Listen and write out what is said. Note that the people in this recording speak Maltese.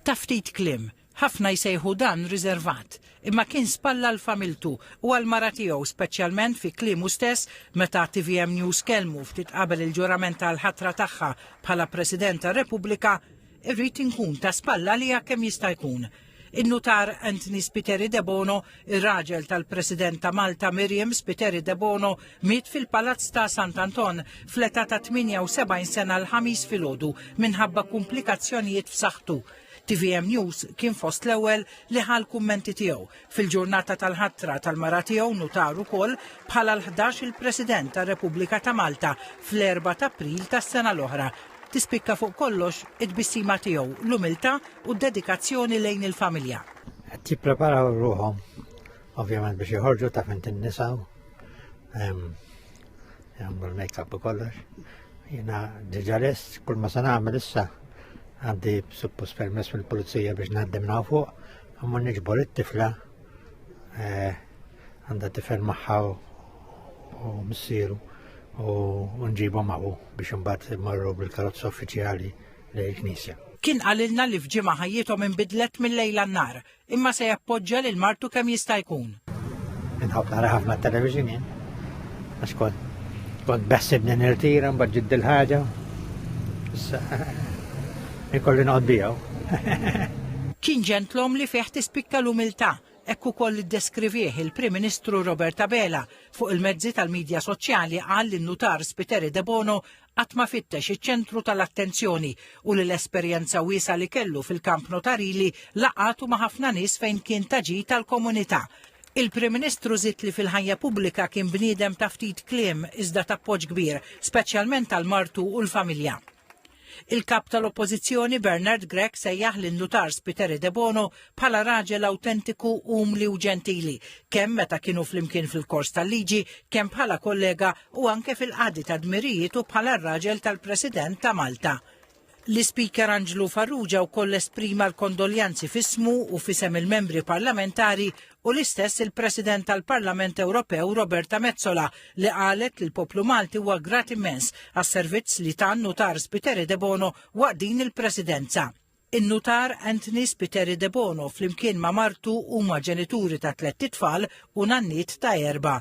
Ta' ftit kliem, ħafna jsejħu dan riservat, imma kien spalla għal familtu u għal mara tiegħu speċjalment fi kliemu stess meta tvm News kellmu ftit qabel il-ġurament tal-ħatra tagħha bħala President tar-Repubblika, Irrid inkun ta' spalla għaliha kemm jista' jkun. In-Nutar Anthony Spiteri Debono, ir-raġel tal-President ta' Malta Miriam Spiteri Debono, miet fil-Palazz ta' Sant' Anton fl-età ta' 78 sena l-Ħamis filgħodu minħabba kumplikazzjonijiet f'saħħtu. Tvm News kien fost l-ewwel li ħa l-kummenti tiegħu fil-ġurnata tal-ħatra tal-mara tiegħu Nutar ukoll bħala l-ħdax-il President tar-Repubblika ta' Malta fl-Erbgħa t'April tas-sena l-oħra Tispikka fuq kollox it-tbissima tiegħu, l-umiltà u d-dedikazzjoni lejn il-familja. Qed jippreparaw ruħhom ovvjament biex joħorġu ta' fint in-nisa jagħmlu l-make-up u kollox. Jiena diġà lest kull ma se nagħmel issa għandi suppost permess mill-pulizija biex ngħaddim fuq, imma niġbor it-tifla eh, Għandha tifel magħha u missieru u nġibu maħu biex imbagħad marru bil-karozza uffiċjali lejn il-knisja. Kien qalilna li f'ġimgħa ħajjithom inbidlet mill-lejla n-nar, imma se jappoġġja lil martu kemm jista' jkun. Inħobb nara ħafna t-television jien. Għax kont kont beħsibni nirtira mbagħad ġidd il-ħaġa. Issa ikolli noqgħod biegħu. Kien ġentlom li fih tispikka l-umiltà Hekk ukoll iddeskrivih il-Prim Ministru Robert Abela. Fuq il-mezzi tal-midja soċjali qal li n-Nutar Spiteri Debono qatt ma fittex iċ-ċentru tal-attenzjoni u li l-esperjenza wiesgħa li kellu fil-kamp notarili laqgħatu ma' ħafna nies fejn kien ta' ġid għall-komunità. Il-Prim Ministru żied li fil-ħajja pubblika kien bniedem ta' ftit kliem iżda t'appoġġ kbir, speċjalment għal martu u l-familja. Il-Kap tal-Oppożizzjoni Bernard Grech sejjaħ lil Nutar Spiteri Debono bħala raġel awtentiku, umli u ġentili, kemm meta kienu flimkien fil-kors tal-liġi, kemm bħala kollega u anke fil-qadi ta' dmirijietu bħala r-raġel tal-President ta' Malta. L-Ispeaker Anġlu Farrugia wkoll esprima l-kondoljanzi f'ismu u f'isem il-membri parlamentari u l-istess il-President tal-Parlament Ewropew Roberta Metsola li qalet li l-poplu Malti huwa grat immens għas-servizz li ta n-Nutar Spiteri Debono waqt din il-Presidenza. In-Nutar Anthony Spiteri Debono flimkien ma' martu huma ġenituri ta' tlett itfal u nanniet ta' erba'.